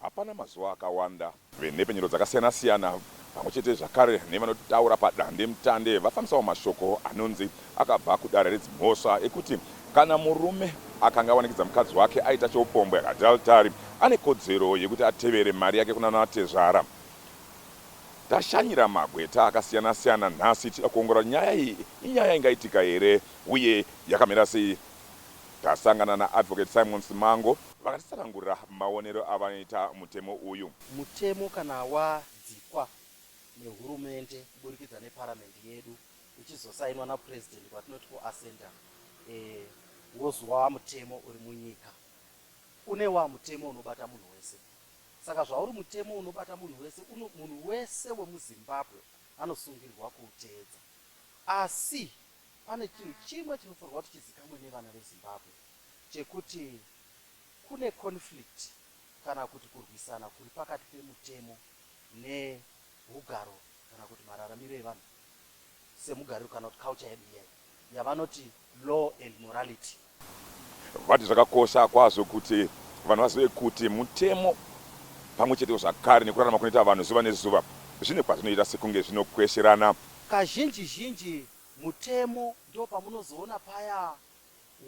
Hapana mazuva akawanda venhepfenyuro dzakasiyana siyana pamwe chete zvakare nevanotaura padandemutande vafambisawo mashoko anonzi akabva kudare redzimhosva ekuti kana murume akanga awanikidza mukadzi wake aita cheupombwe adultary ane kodzero yekuti atevere mari yake kunana tezvara Tashanyira magweta akasiyana siyana nhasi tichida kuongorora nyaya iyi inyaya ingaitika here uye yakamira sei. Tasangana naAdvocate Simon Simango. Vakatitsanangurira maonero avanoita mutemo uyu. Mutemo kana wadzikwa neHurumende kuburikidza neParamende yedu uchizosainwa naPresident kwatinoti kuAssenta wozova mutemo uri munyika. Une wamutemo unobata munhu wese. Saka zvauri mutemo unobata munhu wese uno munhu wese wemuZimbabwe anosungirwa kuuteedza. Asi pane chinhu chimwe chinofanirwa kuti chizikamwe nevana veZimbabwe chekuti kune conflict kana kuti kurwisana kuri pakati pemutemo nehugaro kana kuti mararamiro evanhu. semugariro kana kuti culture yedu iyeyo yavanoti law and morality. Vati zvakakosha kwazvo kuti vanhu vazive kuti mutemo pamwe chetewo zvakare nekurarama kunoita vanhu zuva nezuva zvine kwazvinoita sekunge zvinokwesherana. Kazhinji zhinji mutemo ndopamunozoona paya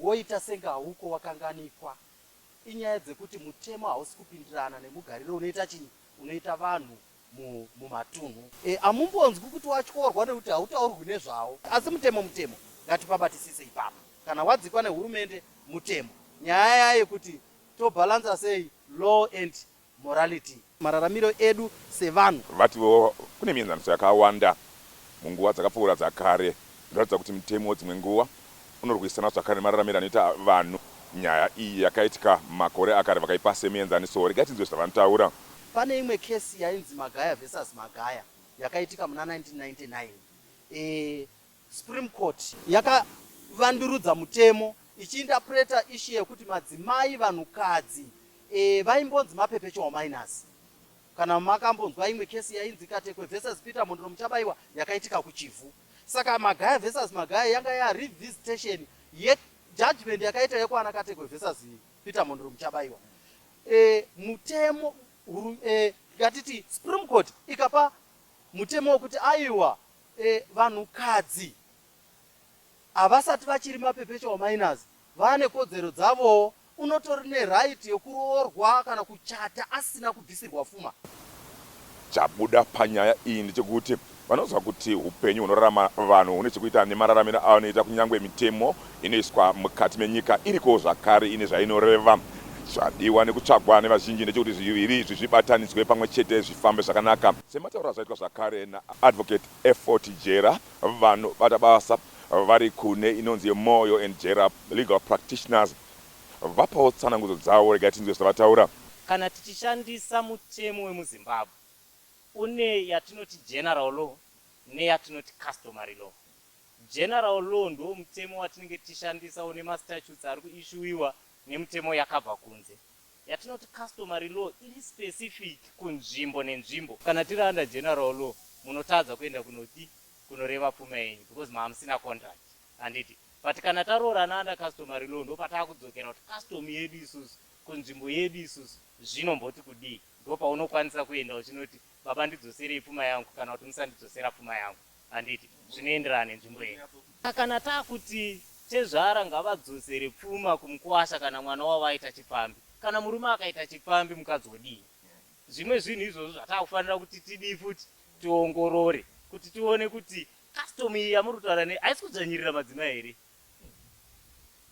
woita senge hauko wakanganikwa. Inyaya dzekuti mutemo hausi kupindirana nemugariro unoita chinyi unoita vanhu mumatunhu amumbonzwi kuti watyorwa nekuti hautaurwi nezvawo asi mutemo mutemo ngatipabatisise ipapa kana wadzikwa nehurumende mutemo nyaya yaye kuti tobhalansa sei law and morality mararamiro edu sevanhu vatiwo kune mienzaniso yakawanda munguva dzakapfuura dzakare Zvinoratidza kuti mutemo dzimwe nguva unorwisana zvakare nemararamiro anoita vanhu. Nyaya iyi yakaitika makore akare vakaipa semuenzaniso. Regai tinzwe zvavanotaura. Pane imwe case yainzi Magaya versus Magaya yakaitika muna 1999. Supreme Court yakavandurudza mutemo ichiinterpreter issue yekuti madzimai, vanhukadzi, vaimbonzi ma perpetual minors. Kana makambonzwa imwe case yainzi Katekwe versus Peter Mhondoro Muchabaiwa yakaitika kuChivhu. Saka Magaya versus Magaya yanga ya revisitation ye judgment yakaita yekwana Katekwe versus Peter Mhondoro Muchabaiwa. E, mutemo huru, e, ngatiti Supreme Court ikapa mutemo wekuti aiwa e, vanhukadzi havasati vachiri mapepesha wamainazi Vane kodzero dzavowo unotori ne right yekuroorwa kana kuchata asina kubvisirwa fuma. Chabuda panyaya iyi ndechekuti vanoziva kuti hupenyu hunorarama vanhu hune chekuita nemararamiro avanoita kunyangwe mitemo inoiswa mukati menyika irikowo zvakare ine zvainoreva. Chadiwa nekutsvagwa nevazhinji ndechekuti zviviri izvi zvibatanidzwe pamwe chete zvifambe zvakanaka. Sematauriro azvaitwa zvakare naAdvocate Effort Jera, Vanobata basa vari kune inonzi yeMoyo and Jera Legal Practitioners vapawo tsanangudzo dzavo regai tinzwe zvavataura. Kana tichishandisa mutemo wemuZimbabwe une yatinoti General Law neyatinoti Customary Law. General Law ndiwo mutemo watinenge tichishandisa une mastatutes ari kuishuwiwa nemutemo yakabva kunze. yatinoti customary law iri specific kunzvimbo nenzvimbo. Kana tiri under general law munotadza kuenda kunoti kunoreva pfuma yenyu because mamusina contract handiti but kana taroorana under customary law ndopatakudzokera kuti custom yedu isusu kunzvimbo yedu isusu zvinomboti kudii ndopaunokwanisa kuenda uchinoti baba ndidzoserei pfuma yangu kana kuti musandidzosera pfuma yangu. Handiti zvinoenderana nenzvimbo yenyu. Kana takuti tezvara ngavadzosere pfuma kumukuwasha kana mwana wavo aita chipfambi. Kana murume akaita chipfambi mukadzi wodii. Zvimwe zvinhu izvozvo zvatakufanira kuti tidii futi tiongorore kuti tione kuti custom iyi yamuri kutaura ne haisi kudzvanyirira madzimai here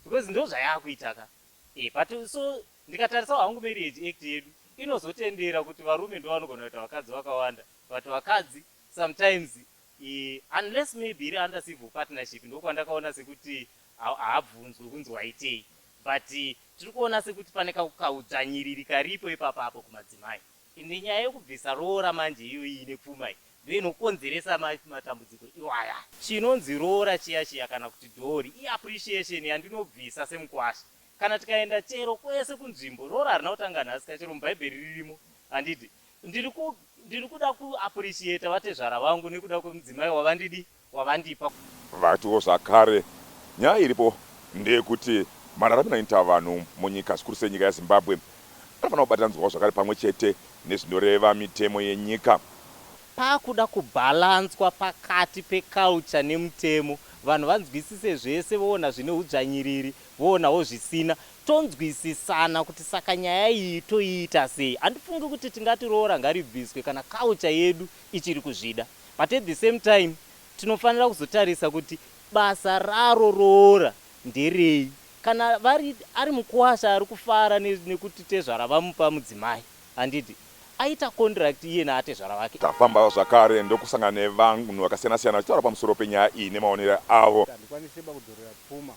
because ndozvayakuita ka e, but so ndikatarisa hangu marriage act yedu inozotendera kuti varume ndovanogona kuita vakadzi vakawanda but vakadzi Sometimes i unless maybe iri under civil partnership ndokwandakaona sekuti haabvunzwe kunzi waitei but tiri kuona sekuti pane kaudzvanyiriri karipo ipapa apo kumadzimai ende nyaya yekubvisa roora manje iyoyi ine pfuma iyi ndoinokonzeresa matambudziko iwaya. Chinonzi roora chiya chiya kana kuti dowry i appreciation yandinobvisa semukwasha kana tikaenda chero kwese kunzvimbo roora harina kutanga nhasi ka chero mubhaibheri ririmo handiti Ndiri kuda ku appreciater vatezvara vangu nekuda kwemudzimai wavandidi wavandipa. Vatiwo zvakare, Nyaya iripo ndeyekuti mararamiro anoita vanhu munyika zvikuru sei nyika yaZimbabwe anofanira kubatanidzwawo zvakare pamwe chete nezvinoreva mitemo yenyika. Pakuda kubhalanzwa pakati peculture nemutemo vanhu vanzwisise zvese voona zvine hudzvanyiriri Voonawo zvisina. Tonzwisisana kuti saka nyaya iyi toiita sei. Handifungi kuti tingati roora ngaribviswe kana culture yedu ichiri kuzvida but at the same time tinofanira kuzotarisa kuti basa raro roora nderei. Kana vari ari mukuwasha ari kufara nekuti tezvara vamupa mudzimai handiti aita contract iye naatezvara vake. Tafambawo zvakare ndokusangana nevanhu vakasiyana siyana vachitaura pamusoro penyaya iyi nemaonere avo. Handikwanise ba kudzorera pfuma.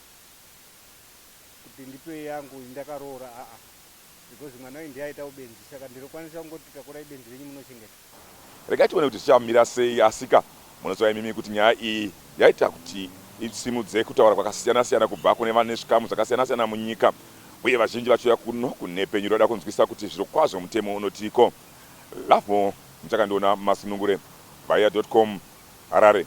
kuti ndipe yangu iyi ndakaroora haa because mwana uyu ndiye aita ubenzi saka ndinokwanisa kungoti takura ibenzi renyu munochengeta. Regai tione kuti zvichamira sei asika munoziva imimi kuti nyaya iyi yaita kuti isimudze kutaura kwakasiyana siyana kubva kune vane zvikamu zvakasiyana siyana munyika uye vazhinji vachiuya kuno kunhepfenyuro vachida kunzwisisa kuti zvirokwazvo mutemo unotiiko. Lovemore Muchakandiona Masunungure, Vaiya dot com, Harare.